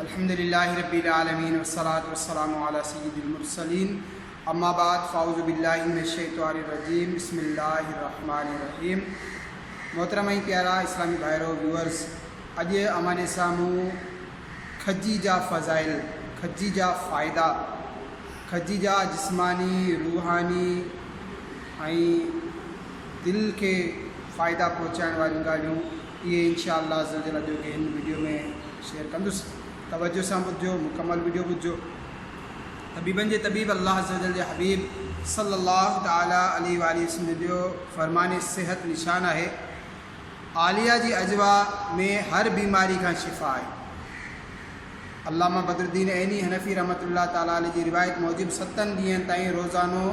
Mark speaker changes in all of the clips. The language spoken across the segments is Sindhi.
Speaker 1: الحمد لله رب العالمين والصلاة والسلام على سيد المرسلين اما بعد فاعوذ بالله من الشيطان الرجيم بسم الله الرحمن الرحيم محترم ۽ پيارا اسلامي ڀائرو ويورز اڄ امان جي سامهون کجي جا فضائل کجي جا فائدا کجي جا جسماني روحاني ۽ دل کي فائدا پهچائڻ واريون ڳالهيون اهي انشاء الله عزّوجلّ اڄ جي هن وڊيو ۾ شيئر ڪندس توجه سان ٻڌجو مڪمل وڊيو ٻڌجو طبيبن جي طبيب الله عزّوجلّ جي حبيب صلّي الله تعالٰي عليه واٰله وسلّم جو فرمان صحت نشان آهي عاليه جي اجوا ۾ هر بيماري کان شفا آهي علامه بدرالدين عيني حنفي رحمت الله تعالٰي عليه جي روايت موجب ستن ڏينهن تائين روزانو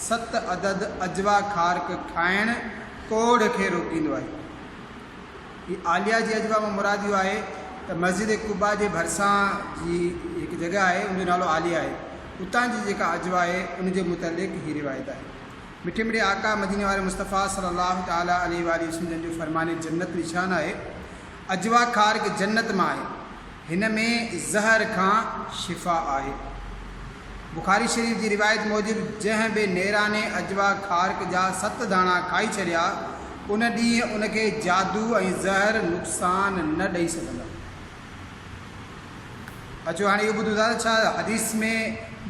Speaker 1: ست عدد اجوا کارڪ کائڻ ڪوڙهه کي روڪيندو آهي هي عاليه جي اجوا مان مراد اهو آهي ته مسجد قباء جي ڀرسان جي هڪ جڳهه آهي ان جو نالو عاليه آهي اتان جي جيڪا اجوا آهي ان جي متعلق هي روايت آهي مٺي مڙي آقا مديني واري مصطفيٰ صلي الله تعالٰي عليه واٰله وسلم جن جو فرمان جنت نشان آهي اجوا خارج جنت مان آهي هن ۾ زهر کان شفا آهي. بخاري شريف جي روايت موجب جنهن به نيراني عجوا خارق جا ست داڻا کائي ڇڏيا ان ڏينهن ان کي جادو ۽ زهر نقصان نه ڏئي سگهندا. اچو هاڻي اهو ٻڌون ٿا ته ڇا حديث ۾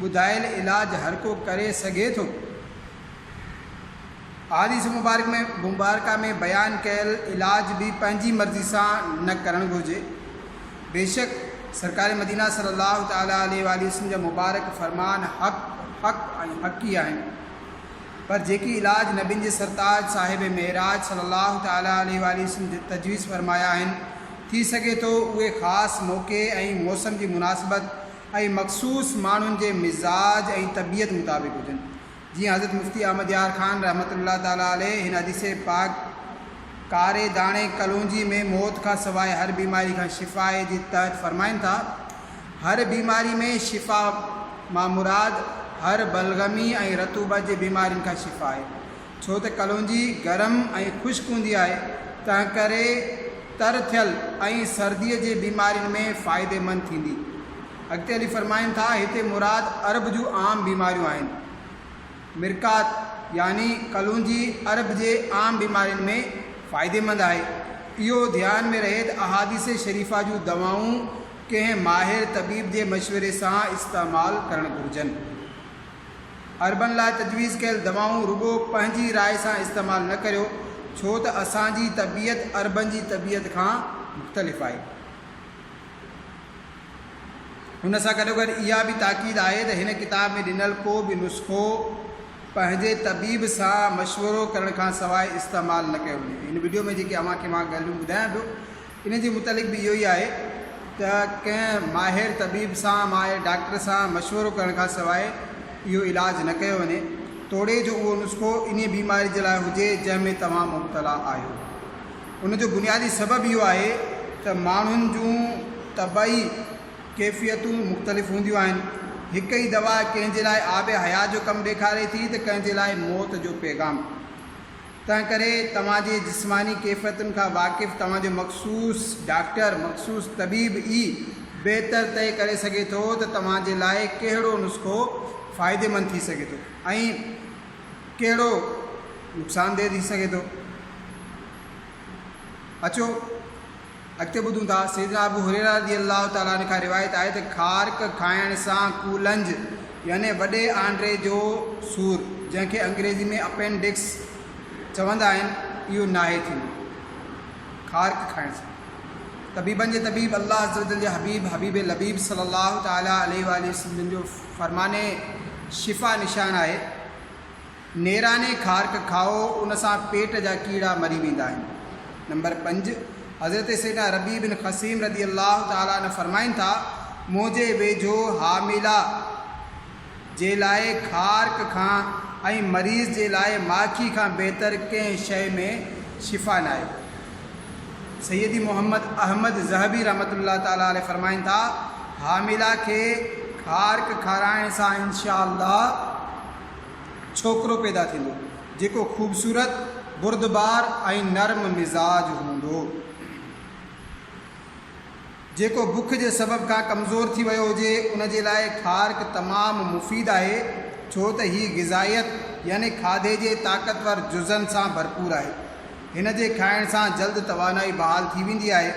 Speaker 1: ٻڌايل علاج هرڪو ڪري سگهي ٿو؟ احاديث مبارڪه ۾ بيان ڪيل علاج به پنهنجي مرضي سان نه ڪرڻ گهرجي، بيشڪ سرڪار مدينه صلّي اللّٰه تعالٰي عليه واٰله وسلّم جا مبارڪ فرمان حق، حق ۽ حق ئي آهن، پر جيڪي علاج نبين جي سرتاج صاحب معراج صلّي اللّٰه تعالٰي عليه واٰله وسلّم تجويز فرمايا آهن، ٿي سگهي ٿو اهي خاص موقعي ۽ موسم جي مناسبت ۽ مخصوص ماڻهن جي مزاج ۽ طبيعت مطابق هجن، جيئن حضرت مفتي احمد يار خان رحمة الله تعالٰي عليه هن حديث پاڪ ڪاري داڻي ڪلونجي ۾ موت کان سواء هر بيماري کان شفا آهي جي تحت فرمائن ٿا، هر بيماري ۾ شفا مان مراد هر بلغمي ۽ رطوبت جي بيمارين کان شفا آهي، ڇو ته ڪلونجي گرم ۽ خشڪ هوندي آهي تنهنڪري تر ٿيل ۽ سردي جي بيمارين ۾ فائديمند ٿيندي. اڳتي هلي فرمائن ٿا، هتي مراد عرب جون عام بيماريون آهن. مرقات يعني ڪلونجي عرب جي عام بيمارين ۾ فائديمند آهي. اهو ڌيان ۾ رهي ته احاديث شريفه جون دوائون ڪنهن ماهر طبيب جي مشوري سان استعمال ڪرڻ گهرجن. عربن لاء تجويز ڪيل دوائون رڳو پنهنجي راء سان استعمال نه ڪريو ڇو ته اسان جي طبيعت عربن جي طبيعت کان مختلف آهي. هن سان گڏوگڏ اها به تاڪيد آهي ته هن ڪتاب ۾ ڏنل ڪو به نسخو پنهنجي طبيب سان مشورو ڪرڻ کان سواء استعمال نه ڪيو وڃي. هن وڊيو ۾ جيڪي اوهان کي مان ڳالهيون ٻڌايان پيو انهن جي متعلق به اهو ئي آهي ته ڪنهن ماهر طبيب سان، ماهر ڊاڪٽر سان، مشورو ڪرڻ کان سواء اهو علاج نه ڪيو وڃي توڙي جو اهو نسخو انهي بيماري جي لاء هجي جنهن ۾ توهان مبتلا آهيو. ان جو بنيادي سبب اهو آهي ته ماڻهن جون طبعي ڪيفيتون مختلف هونديون آهن. هڪ ئي دوا ڪنهن جي لاء آب حيات جو ڪم ڏيکاري ٿي ته ڪنهن جي لاء موت جو پيغام. تنهنڪري توهان جي جسماني ڪيفيتن کان واقف توهان جو مخصوص ڊاڪٽر، مخصوص طبيب ئي بهتر طئي ڪري سگهي ٿو ته توهان جي لاء ڪهڙو نسخو فائديمند ٿي سگهي ٿو ۽. ڪهڙو نقصاندهه ٿي سگهي ٿو؟ اچو اڳتي ٻڌون ٿا سيدنا ابو هريره رضي الله تعالٰي عنه کان روايت آهي ته خارڪ کائڻ سان ڪولنج يعني وڏي آنڊري جو سور جنهن کي انگريزي ۾ اپينڊڪس چوندا آهن اهو ناهي ٿيندو خارڪ کائڻ سان طبيبن جي طبيب الله عزوجل جي حبيب حبيب لبيب صلي الله تعالٰي عليه وآله وسلم جو فرمان شفا نشان آهي. نيراني خارڪ کائو ان سان پيٽ جا ڪيڙا مري ويندا آهن. نمبر پنج، حضرت سيدنا ربيع بن خثيم رضي الله تعالٰي عنه فرمائن ٿا، منهنجي ويجهو حامله جي لاء خارڪ کان ۽ مريض جي لاء ماکي کان بهتر ڪنهن شيء ۾ شفا ناهي. سيدي محمد احمد ذهبي رحمة الله تعالٰي عليه فرمائن ٿا، حامله کي کارڪ کارائڻ سان انشاء الله ڇوڪرو پيدا ٿيندو، جيڪو خوبصورت، بردبار ۽ نرم مزاج هوندو. جيڪو بک جي سبب کان ڪمزور ٿي ويو هجي ان جي لاء کارڪ تمام مفيد آهي ڇو ته هي غذائيت يعني کاڌي جي طاقتور جزن سان ڀرپور آهي. هن جي کائڻ سان جلد توانائي بحال ٿي ويندي آهي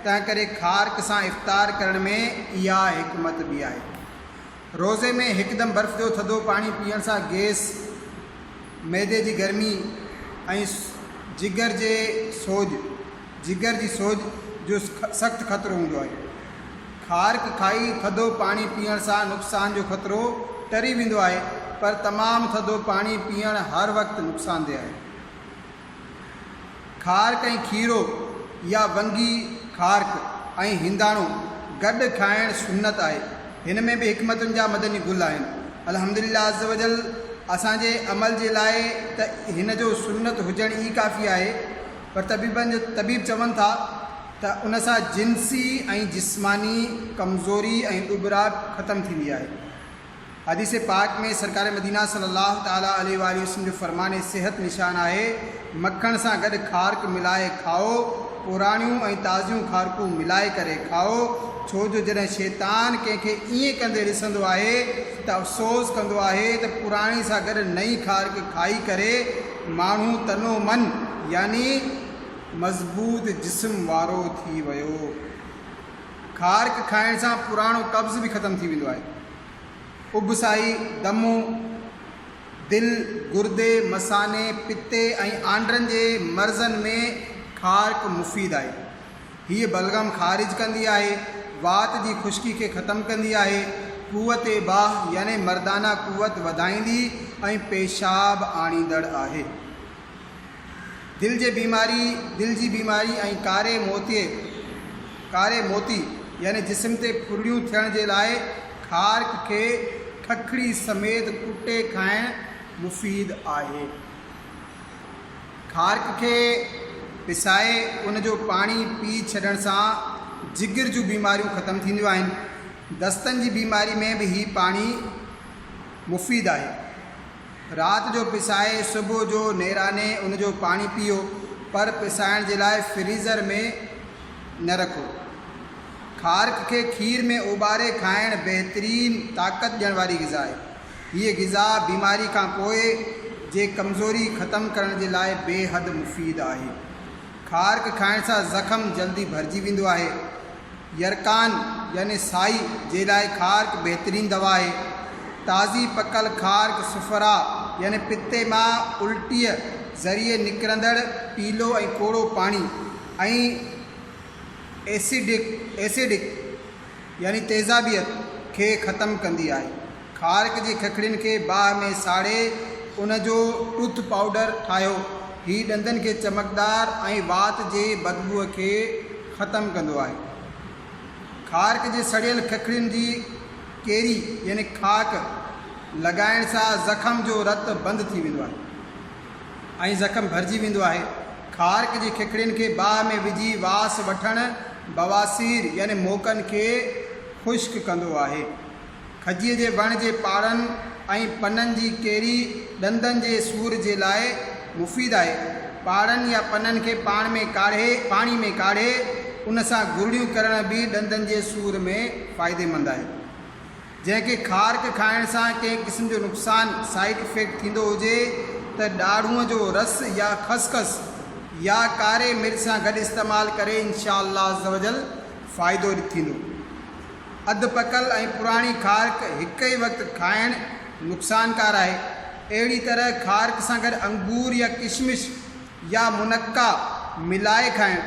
Speaker 1: تنهنڪري کارڪ سان افطار ڪرڻ ۾ اها حڪمت به آهي. روزي ۾ هڪدم برف جو ٿڌو پاڻي پيئڻ سان گيس، معدي جي گرمي ۽ جگر جي سوڄ، جگر جي سوڄ جو سخت خطرو هوندو آهي. خارڪ کائي ٿڌو پاڻي پيئڻ سان نقصان جو خطرو ٽري ويندو آهي پر تمام ٿڌو پاڻي پيئڻ هر وقت نقصاندهه آهي. خارڪ ۽ کيرو يا ونگي خارڪ ۽ هنداڻو گڏ کائڻ سنت آهي. هن ۾ به حڪمتن جا مدني گل آهن. الحمدلله عزّوجلّ اسان جي عمل جي لاء ته هن جو سنت هجڻ ئي ڪافي آهي. پر طبيبن جو طبيب چون ٿا ته ان سان جنسي ۽ جسماني ڪمزوري ۽ ڏٻراٽ ختم ٿيندي آهي. حديث پاڪ ۾ سرڪار مدينه صلّي اللّٰه تعالٰي عليه واٰله وسلّم جو فرمان صحت نشان آهي، مکڻ سان گڏ کارڪ ملائي کائو، پراڻيون ۽ تازيون کارڪون ملائي ڪري کائو، ڇو جو جڏهن شيطان ڪنهن کي ائين ڪندي ڏسندو آهي ته افسوس ڪندو آهي ته پراڻي سان گڏ نئين کارڪ کائي ڪري، ماڻهو تن و من يعني مضبوط جسم وارو ٿي ويو. کارڪ کائڻ سان پراڻو قبض به ختم ٿي ويندو آهي. اڀسائي، دمو، دل، گردي، مثاني، پتي ۽ آنڊرن جي مرضن ۾ کارڪ مفيد آهي. هيء بلغم خارج ڪندي آهي، وات جي خشڪي کي ختم ڪندي آهي، قوت باهه يعني مردانه قوت وڌائيندي ۽ پيشاب آڻيندڙ آهي. دل جي بيماري، دل جي بيماري ۽ ڪاري موتي، ڪاري موتي، يعني جسم تي ڦرڙيون ٿيڻ جي لاء خارڪ کي ککڙي سميت ڪٽي کائڻ مفيد آهي. کارڪ کي پسائي ان جو پاڻي پي ڇڏڻ سان جگر جون بيماريون ختم ٿينديون آهن. دستن جي بيماري ۾ به هي پاڻي مفيد آهي. رات جو پسائي صبح جو نيراني ان جو پاڻي پيئو پر پسائڻ جي لاء فريزر ۾ نه رکو. کارڪ کي کير ۾ اوٻاري کائڻ بهترين طاقت ڏيڻ واري غذا آهي. هيء غذا بيماري کان پوء جي ڪمزوري ختم ڪرڻ جي لاء بيحد مفيد آهي. کارڪ کائڻ سان زخم جلدي ڀرجي ويندو آهي. يرقان يعني سائي جي لاء کارڪ بهترين دوا آهي. تازي پڪل کارڪ صفراء يعني پتي مان الٽيء ذريعي نڪرندڙ پيلو ۽ ڪوڙو پاڻي ۽ ايسڊڪ، Acidic، يعني تيزابيت، کي ختم ڪندي آهي. کارڪ جي ککڙين کي باهه ۾ ساڙي ان جو ٽوٿ پائوڊر ٺاهيو. هي ڏندن کي چمڪدار ۽ وات جي بدبوء کي ختم ڪندو آهي. کارڪ جي سڙيل ککڙين جي ڪيري يعني خاڪ لڳائڻ سان زخم جو رت بند ٿي ويندو آهي. ۽ زخم ڀرجي ويندو آهي. خارڪ جي ککڙين کي باهه ۾ وجهي واس وٺڻ بواسير يعني موڪن کي خشڪ ڪندو آهي. کجيء جي وڻ جي پاڙن ۽ پنن جي ڪيري ڏندن جي سور جي لاء مفيد آهي. پاڙن يا پنن کي پاڻ ۾ ڪاڙهي پاڻي ۾ ڪاڙهي ان سان گرڙيون ڪرڻ به ڏندن جي سور ۾ فائديمند آهي. جنهن کي خارڪ کائڻ سان ڪنهن قسم جو نقصان، Side Effect، ٿيندو هجي ته ڏاڙهونء جو رس يا خسخس يا ڪاري مرچ سان گڏ استعمال ڪري انشاء الله عزّوجلّ فائدو ٿيندو. اڌ پڪل ۽ پراڻي خارڪ هڪ ئي وقت کائڻ نقصانڪار آهي. اهڙي طرح خارڪ سان گڏ انگور يا ڪشمش يا منقع ملائي کائڻ،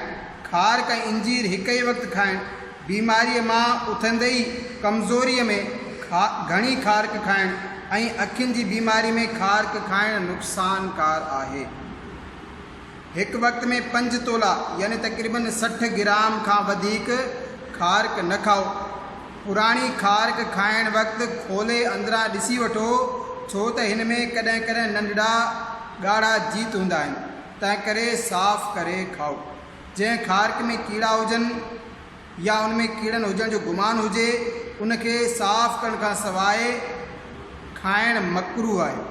Speaker 1: کارڪ ۽ انجير هڪ ئي وقت کائڻ، بيماريء مان اٿندي ئي ڪمزوريء ۾ کا گهڻي کارڪ کائڻ ۽ اکين جي بيماري ۾ کارڪ کائڻ نقصانڪار آهي. هڪ وقت ۾ پنج تولا يعني تقريباً سٺ گرام کان وڌيڪ کارڪ نه کائو. پراڻي خارڪ کائڻ وقت کولي اندران ڏسي وٺو ڇو ته هن ۾ ڪڏهن ڪڏهن ننڍڙا ڳاڙها جيت هوندا آهن تنهنڪري صاف ڪري کائو. جنهن خارڪ ۾ ڪيڙا هجن يا ان ۾ ڪيڙن هجڻ جو گمان هجي ان کي صاف ڪرڻ کان سواء کائڻ مڪروهه آهي.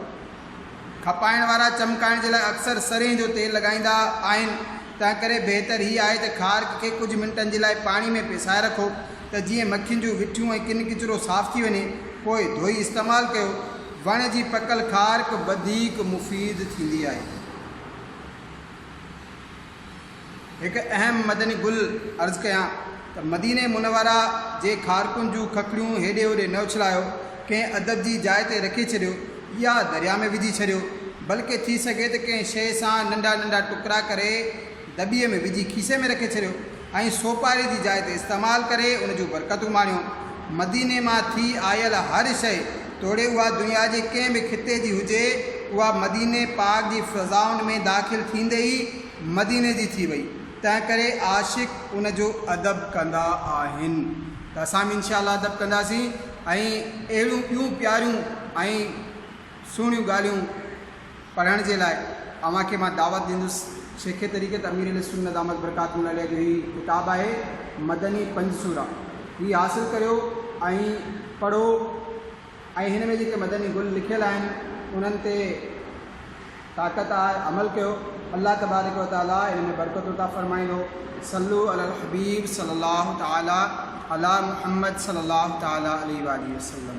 Speaker 1: کپائڻ وارا چمڪائڻ جي لاء اڪثر سرين جو تيل لڳائيندا آهن، تنهنڪري بهتر هي آهي ته خارڪ کي ڪجهه منٽن جي لاء پاڻي ۾ پيسائي رکو ته جيئن مکين جون وٺيون ۽ ڪن ڪچرو صاف ٿي وڃي، پوء ڌوئي استعمال ڪيو. وڻ جي پڪل خارڪ وڌيڪ مفيد ٿيندي آهي. هڪ اهم مدني گل عرض ڪيان ته مديني منوره جي کارڪن جون ککڙيون هيڏي هوڏي نه اڇلايو، ڪنهن ادب جي جاء تي رکي ڇڏيو يا درياء ۾ وجهي ڇڏيو، بلڪه ٿي سگهي ته ڪنهن شيء سان ننڍا ننڍا ٽڪرا ڪري دٻي ۾ وجهي کيسي ۾ رکي ڇڏيو ۽ سوپاري جي جاء تي استعمال ڪري ان جون برڪتون ماڻيو. مديني مان ٿي آيل هر شيء. توڙي اها دنيا جي ڪنهن به خطي جي هجي، اها مديني پاڪ جي فضائن ۾ داخل ٿيندي ئي مديني جي ٿي وئي، تنهن ڪري عاشق ان جو ادب ڪندا آهن ته اسان به انشاء الله ادب ڪنداسين ۽ اهڙيون ٻيون پياريون ۽ سهڻيون ڳالهيون. پڙهڻ جي لاء اوهان کي مان دعوت ڏيندس. شيخ طريقت امير اهلسنت دامت برڪاتهم العليه جو هي ڪتاب آهي مدني پنج سورا. هي حاصل ڪريو ۽ پڙهو ۽ هن ۾ جيڪي مدني گل لکيل آهن انهن تي طاقت آهي عمل ڪيو الله تبارڪ و تعالي ان ۾ برڪت عطا فرمائيندو صلو علي الحبيب صلي الله تعالي علي محمد صلي الله تعالي عليه واٰله وسلم.